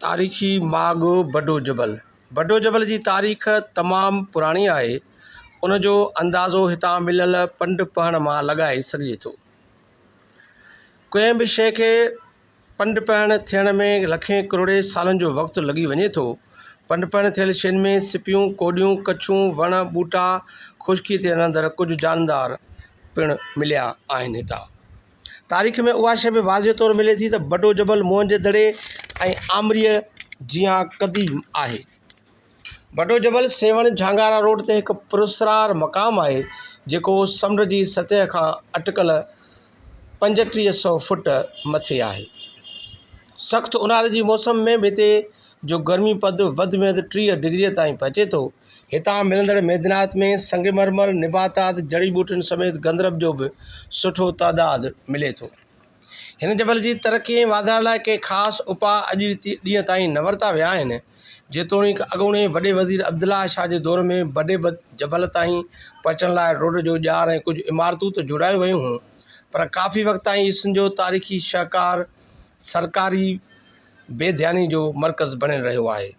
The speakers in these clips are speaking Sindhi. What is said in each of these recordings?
تاريخي ماڳ بڊو جبل، بڊو جبل جي تاريخ تمام پراڻي آهي، ان جو اندازو هتان مليل پنڊ پهڻ مان لڳائي سگهجي ٿو. ڪنهن به شيء کي پنڊ پهڻ ٿيڻ ۾ لکين ڪروڙين سالن جو وقت لڳي وڃي ٿو. پنڊ پهڻ ٿيل شين ۾ سپيون، ڪوڏيون، ڪڇون، وڻ، ٻوٽا، خشڪيء تي رهندڙ ڪجهه جاندار پڻ مليا آهن. هتان. تاريخ ۾ اها شيء به واضح طور ملي ٿي ته بڊو جبل موهنجي دڙي ۽ آمريء جيان قديم آهي. بڊو جبل سيوهڻ جهانگارا روڊ تي هڪ پراسرار مقام آهي، جيڪو سمنڊ جي سطح کان اٽڪل پنجٽيهه سئو فوٽ مٿي آهي. سخت اونهاري جي موسم ۾ به هتي جو گرمي پد وڌ ۾ وڌ ٽيهه ڊگريء تائين پهچي ٿو. هتان ملندڙ معدنيات ۾ سنگ مرمر، نباتات، جڙي ٻوٽين سميت گندرب جو به سٺو تعداد ملي ٿو. هن جبل جي ترقي ۽ واڌاري لاء ڪي خاص اپاء اڄ ڏينهن تائين نه ورتا ويا آهن، جيتوڻيڪ اڳوڻي وڏي وزير عبدالله شاهه جي دور ۾ بڊي جبل تائين پهچڻ لاء روڊ جو ڄار ۽ ڪجهه عمارتون ته جوڙايون ويون هيون پر ڪافي وقت تائين سنڌ جو تاريخي شهڪار سرڪاري بي ڌياني جو مرڪز بڻيل رهيو آهي.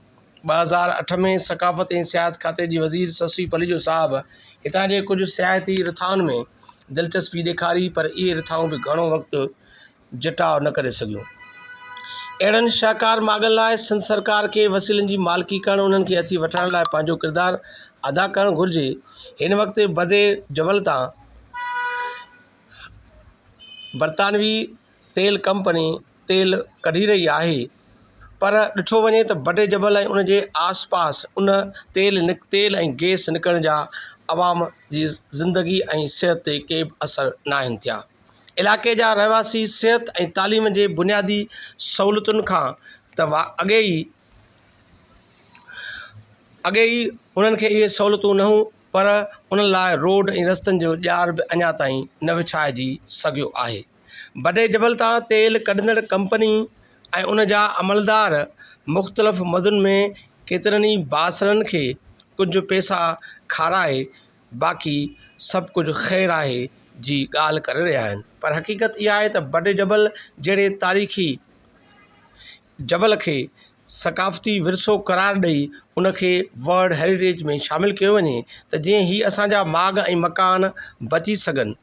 ٻه هزار اٺ ۾ ثقافت ۽ سياحت کاتي جي وزير سسي پليجو صاحب هتان جي ڪجهه سياحتي رٿائن ۾ دلچسپي ڏيکاري پر اهي رٿائون به گهڻو وقت جٽاء نه ڪري سگهيون. اهڙن شاهڪار ماڳن لاء سنڌ سرڪار کي وسيلن جي مالڪي ڪرڻ انهن کي هٿي وٺرائڻ لاء پنهنجو ڪردار ادا ڪرڻ گهرجي. هن وقت بدي جبل تان برطانوي. تيل ڪمپني تيل ڪڍي رهي آهي پر ڏٺو وڃي ته بٽي جبل ۽ ان جي آس پاس ان تيل نڪ تيل ۽ گيس نڪرڻ جا عوام جي زندگي ۽ صحت تي ڪي به اثر نه آهن ٿيا علائقي جا رهواسي صحت ۽ تعليم جي بنيادي سهولتن کان ته وا اڳي ئي اڳي ئي انهن کي اهي سهولتون نه هون پر انهن لاء روڊ ۽ رستن جو ڄار به اڃا تائين نه وڇائجي سگهيو آهي بڊي جبل تان تيل ڪڍندڙ ڪمپني ۽ ان جا عملدار مختلف مدن ۾ ڪيترن ئي بااثرن کي ڪجهه پيسا کارائي باقي سڀ ڪجهه خير آهي جي ڳالهه ڪري رهيا آهن پر حقيقت اها آهي ته بڊي جبل جهڙي تاريخي جبل کي ثقافتي ورثو قرار ڏئي ان کي ورلڊ هيريٽيج ۾ شامل ڪيو وڃي ته جيئن هي اسان جا ماڳ ۽ مڪان بچي سگهن.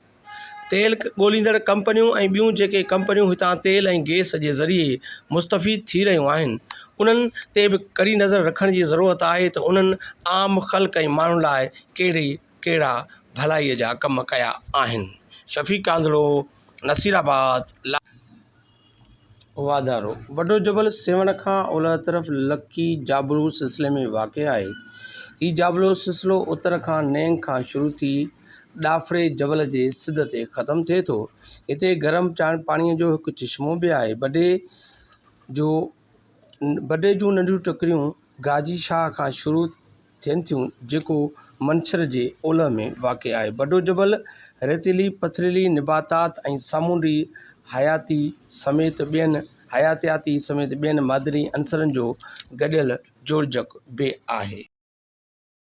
تيل ڳوليندڙ ڪمپنيون ۽ ٻيون جيڪي ڪمپنيون هتان تيل ۽ گئس جي ذريعي مستفيد ٿي رهيون آهن انهن تي به ڪڙي نظر رکڻ جي ضرورت آهي ته انهن عام خلق ۽ ماڻهن لاء ڪهڙي ڪهڙا ڀلائي جا ڪم ڪيا آهن شفيق ڪانڌڙو نصيرآباد لاء. واڌارو، وڏو جبل سيوهڻ کان اولهه طرف لڪي جابلو سلسلي ۾ واقع آهي. هي جابلو سلسلو اتر کان نينگ کان شروع ٿي ڏاڦڙي جبل جي سڌ تي ختم ٿئي ٿو. هتي گرم پاڻيء جو هڪ چشمو به آهي. بڊي جون ننڍيون ٽڪريون گاجي شاهه کان شروع ٿين ٿيون جيڪو منڇر جي اولهه ۾ واقع آهي. بڊو جبل ريتيلي پٿريلي نباتات ۽ سامونڊي حياتي سميت ٻين حياتياتي سميت ٻين معدني عنصرن جو گڏيل جوڙجڪ به آهي.